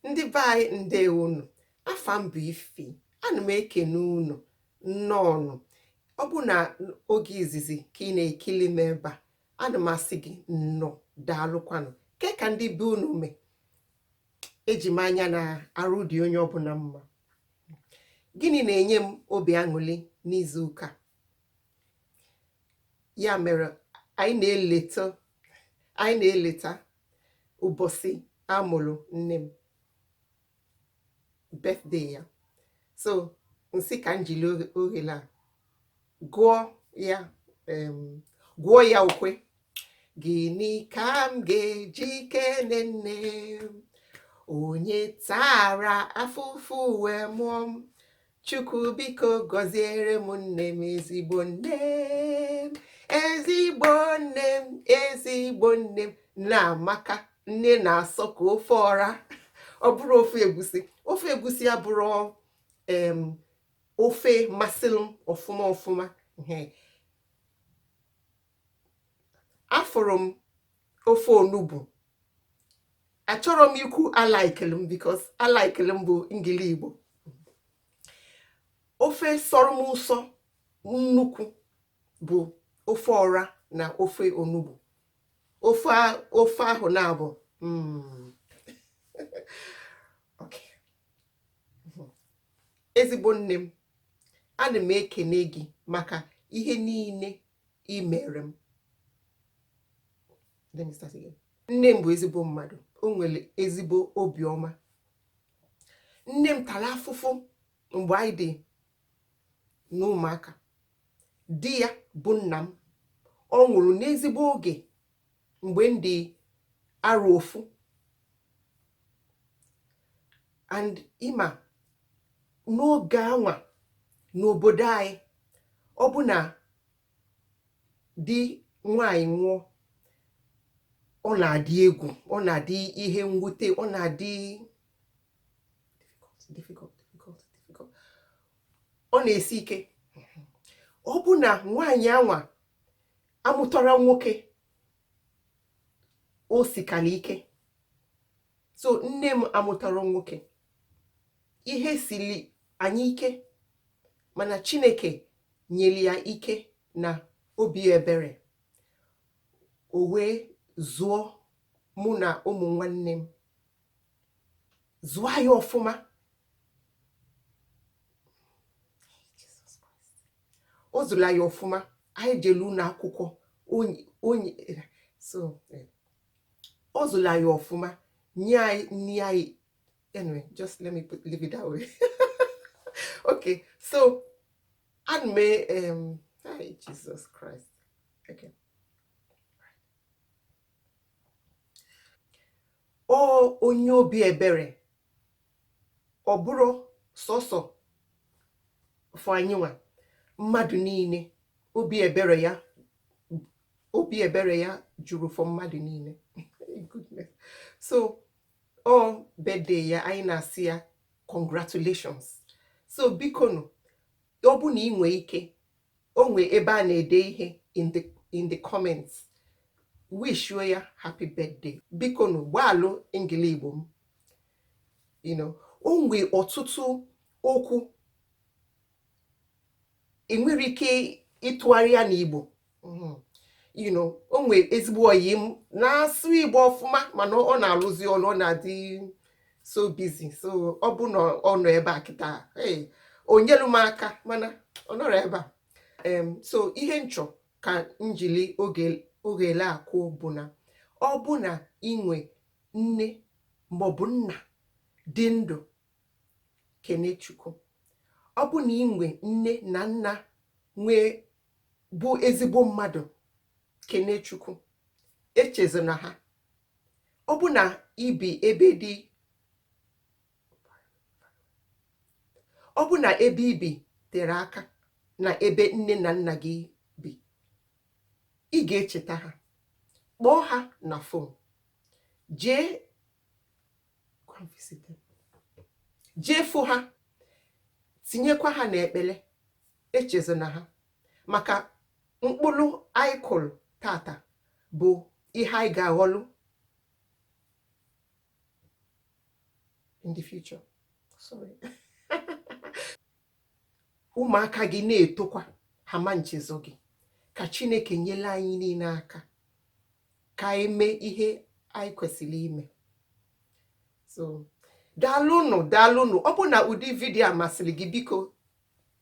ndị be anyị ndewo unu afa m bụ ify ana m ekene unu nnọọ nụ ọ bụ na oge izizi ka ị na-ekili m ebe a ana m asị gị nnọọ daalụkwanụ ke ka ndị be unu mee eji m anya na arụ dị onye ọbụla mma gịnị na-enye m obi aṅụli n'izu ụka ya mere anyị na-eleta anyị na-eleta ụbọsị a mụlụ nne m birthday ya so m sị ka m jili ohere a gụọ ya gụọ ya ukwe gịnị ka m ga-eji kene nne m onye tara afụfụ wee mụọ m Chukwu biko gọziere m nne m ezigbo nne m ezigbo nne m ezigbo nne m nne amaka nne na-asọ ka ofe ọra ọ bụrọ ofe egusi ofe egusi abụrọ em ofe masịrị m ọfụma ọfụma afụrụ m ofe onugbu achọrọ m ikwu alaikele m because alaikele m bụ engligbo ofe sọrọ m ụsọ nnukwu bụ ofe ọra na ofe onugbu ofe a- ofe ahụ na-abụ mm. Okay. Mhm. ezigbo nne m ana m ekene gị maka ihe niile i mere m let me start again nne m bụ ezigbo mmadụ o nwere ezigbo obiọma nne m tara afụfụ mgbe anyị dị n'ụmụaka di ya bụ nna m ọ nwụrụ n'ezigbo oge mgbe m dị arọ ofu and ị ma n'oge anwa n'obodo anyị ọ bụ na di nwaanyị nwụọ ọ na-adị egwu ọ na-adị ihe mwute ọ na-adị difficult difficult difficult ọ na-esi ike ọ bụ na nwaanyị anwa amụtarọ nwoke o sikala ike so nne m amụtarọ nwoke ihe siri anyị ike mana chineke nyere ya ike na obi ebere o wee zụọ mụ na ụmụ nwanne m zụọ anyị ọfụma ọ zụlụ anyị ọfụma anyị jelu ụlọ akwụkwọ onye so eh, ọ zụlụ anyị ọfụma nye anyị nri anyị anyway just let me put, leave it that way okay so ana m um, hi Jesus Christ okay Ọ onye obi ebere, ọ bụrọ sọsọ for anyịnwa mmadụ niile, obi ebere ya obi ebere ya juru for mmadụ niile so ọ birthday ya anyị na-asị ya congratulations so biko nụ ọ bụ na ị nwee ike O nwee ebe a na-ede ihe in the in the comments, wishuo ya happy birthday. Biko nụ gbaalụ Engli-Igbo m. You know, o nwee ọtụtụ okwu e nwere ike ịtụgharị ya n'Igbo. Mhm. You know, o nwee ezigbo ọyị m na-asụ Igbo ọfụma mana ọ na-alụzi ọlụ ọ na-adị so busy so ọ bụ na ọ nọ ebe a kịta o nyelu m aka mana ọ nọrọ ebe a so ihe m chọ ka m jili ogele akụ bụ na ọ bụ na i nwe nne maọbụ nna dị ndụ kene Chukwu ọ bụ na i nwe nne na nna nwee bụ ezigbo mmadụ kene Chukwu echezona ha Ọ bụ na i bi ebe dị ọ bụ na ebe i bi tere aka na ebe nne na nna gị bi ị ga-echeta ha kpọọ ha na fon jee jee fụ ha tinyekwa ha n'ekpere echezona ha maka mkpụrụ anyị kụrụ tata bụ ihe anyị ga-aghọlụ in the future sorry ụmụaka gị na-etokwa ha ma nchezọ gị ka chineke nyelu anyị niile aka ka anyị mee ihe anyị kwesịrị ime so daalụnụ daalụnụ ọ bụ na ụdị vidiyo a masịrị gị biko